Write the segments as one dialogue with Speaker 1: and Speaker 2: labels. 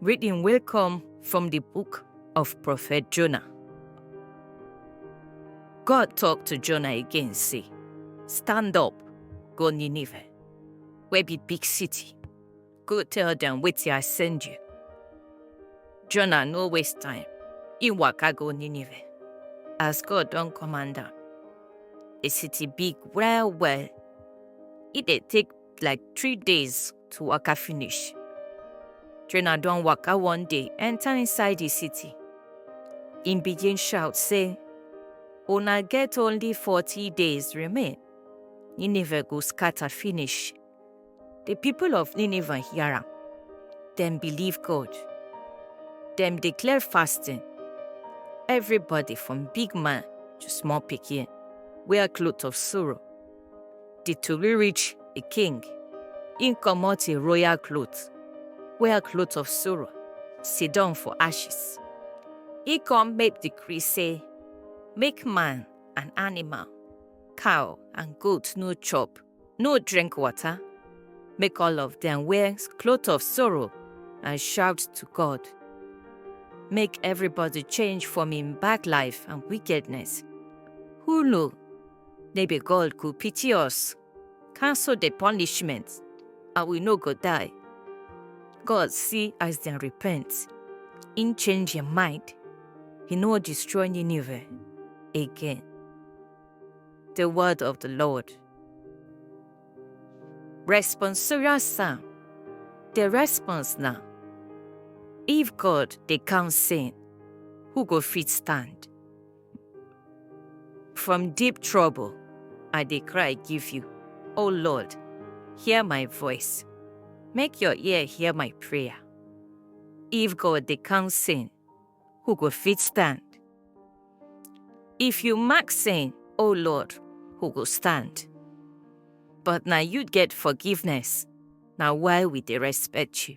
Speaker 1: Reading will come from the book of Prophet Jonah. God talked to Jonah again, say, Stand up, go Nineveh, where be big city. Go tell them wait till I send you. Jonah no waste time. He waka go Nineveh. As God don't command am. The city big well well. It dey take like three days to waka finish. Trainer don waka one day enter inside the city. Im begin shout say, Una get only 40 days remain. Nineveh go scatter finish. The people of Nineveh hear am. Dem believe God. Dem declare fasting. Everybody from big man to small pikin wear cloth of sorrow. di tori reach di king, im comot im royal cloth, wear cloth of sorrow, sidon for ashes. Im come make decree say make man and animal, cow and goat no chop, no drink water, make all of dem wear cloth of sorrow and shout to God. Make everybody change from im bad life and wickedness. Who know They be God go pity us, cancel the punishment, and we no go die. God see as dem repent, im change im mind, he no destroy Nineveh again. The word of the Lord. Responsorial Psalm. The response na, If God dey count sin, who go fit stand? From deep trouble, I dey cry give you. O Lord, hear my voice. Make your ear hear my prayer. If God dey count sin, who go fit stand? If you mark sin, O Lord, who go stand? But na you get forgiveness, na why we dey respect you.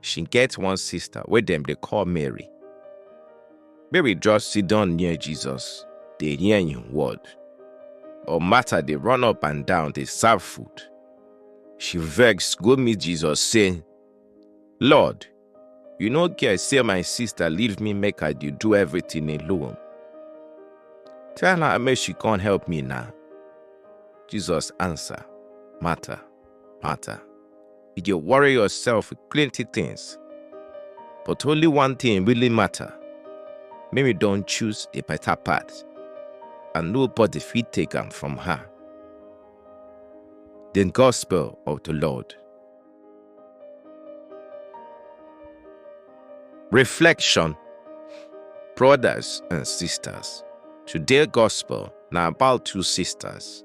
Speaker 1: She get one sister wey dem dey call Mary. Mary just sit down near Jesus, dey hear him word. But Martha dey run up and down dey serve food. She vex go meet Jesus say, Lord, you no care say my sister leave me make I dey do everything alone. Tell her make she come help me now. Jesus answer, Martha, matter. You dey worry yourself with plenty things, but only one thing really matter. Make we don choose the better path, and nobody fit take am from her. The Gospel of the Lord. Reflection Brothers and sisters, today gospel na about two sisters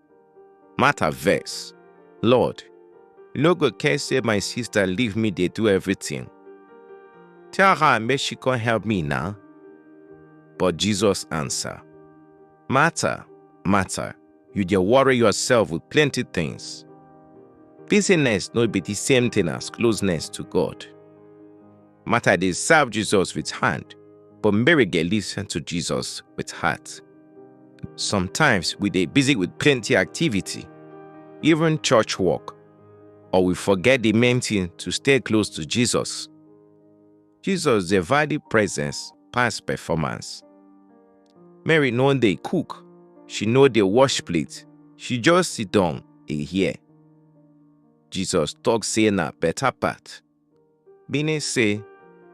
Speaker 1: Martha vex, Lord, you no go care say my sister leave me dey do everything. Tell her make she come help me now. But Jesus answer, Martha, Martha, you dey worry yourself with plenty things. Busyness no be the same thing as closeness to God. Martha dey serve Jesus with hand, but Mary dey listen to Jesus with heart. Sometimes we dey busy with plenty activity, even church work, or we forget the main thing to stay close to Jesus. Jesus dey value presence pass performance. Mary no dey cook, she no dey wash plate, she just sit down dey hear. Jesus talk say na better part. Meaning say,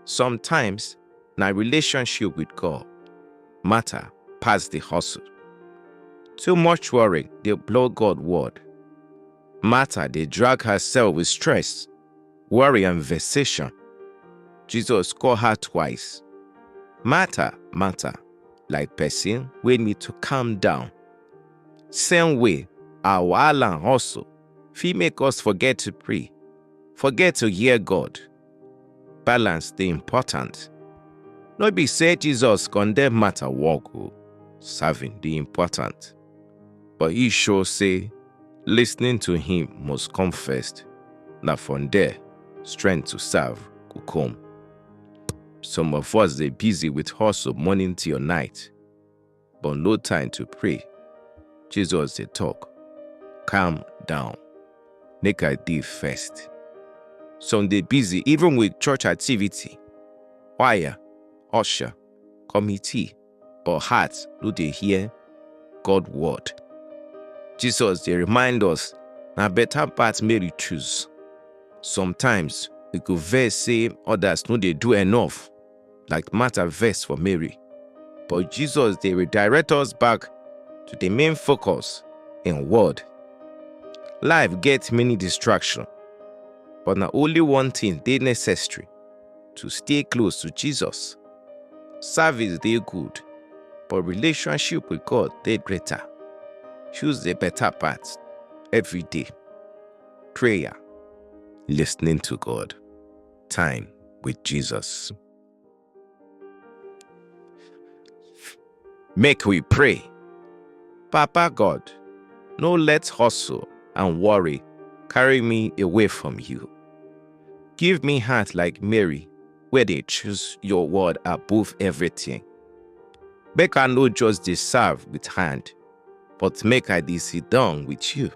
Speaker 1: sometimes na relationship with God matter pass the hustle. Too much worry dey blow God word. Martha dey drag herself with stress, worry and vexation. Jesus call her twice. Martha, Martha, like person wey need to calm down. Same way, our wahala and hustle fit make us forget to pray, forget to hear God. Balance dey important. No be say Jesus condemn matter work o, serving dey important. But he show say listening to him must come first. Na from there, strength to serve go come. Some of us dey busy with hustle morning till night. but no time to pray. Jesus dey talk, calm down, make I dey first. Some dey busy even with church activity, choir, usher, committee, but heart no dey hear God word. Jesus dey remind us na better path Mary choose. Sometimes we go vex say others no dey do enough, like Martha vex for Mary. But Jesus dey redirect us back to the main focus in word. Life gets many distractions, but na only one thing dey necessary to stay close to Jesus. Service dey good, but relationship with God dey greater. Choose the better path every day. Prayer, listening to God. time with Jesus. Make we pray. Papa God, no let hustle and worry carry me away from you. Give me heart like Mary, where they choose your word above everything. Make I no just deserve with hand, but make I dey sit down with you,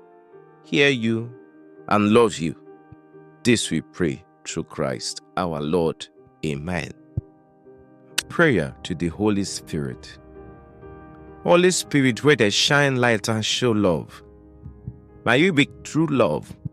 Speaker 1: hear you, and love you. This we pray through Christ our Lord. Amen. Prayer to the Holy Spirit. Holy Spirit, where they shine light and show love. May you be true love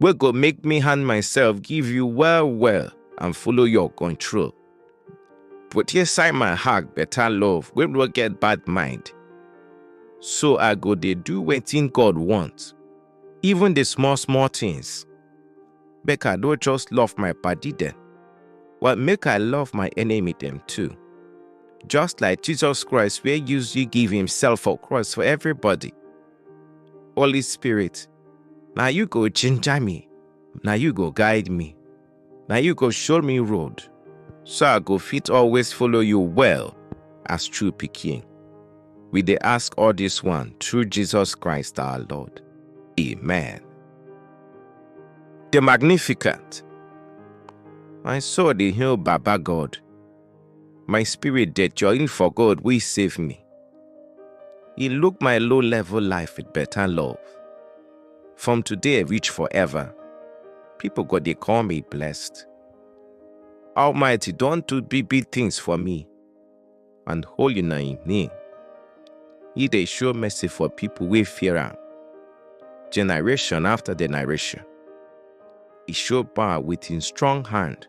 Speaker 1: wey go make me hand myself give you well well and follow your control. Put inside my heart better love wey no get bad mind. So I go dey do wetin God want, even the small small things. Make I no just love my padi dem, but make I love my enemy dem too. Just like Jesus Christ wey use you give himself for cross for everybody. Holy Spirit, na you go ginger me na you go guide me na you go show me road so i go fit always follow you well as true pikin we dey ask all this one through jesus christ our lord amen the magnificent my soul dey hail baba god My spirit dey join for God wey save me. He look my low level life with better love. From today reach forever, people go dey call me blessed. Almighty don do big big things for me, and holy na him name. He dey show mercy for people wey fear am, generation after generation. He show power with him strong hand.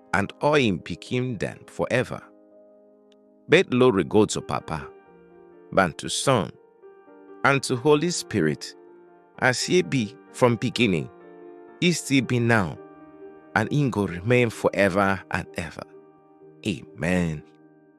Speaker 1: and all im pikin dem forever. Make glory go to Papa, and to Son, and to Holy Spirit, as ye be from beginning, ye still be now, and in go remain forever and ever. Amen.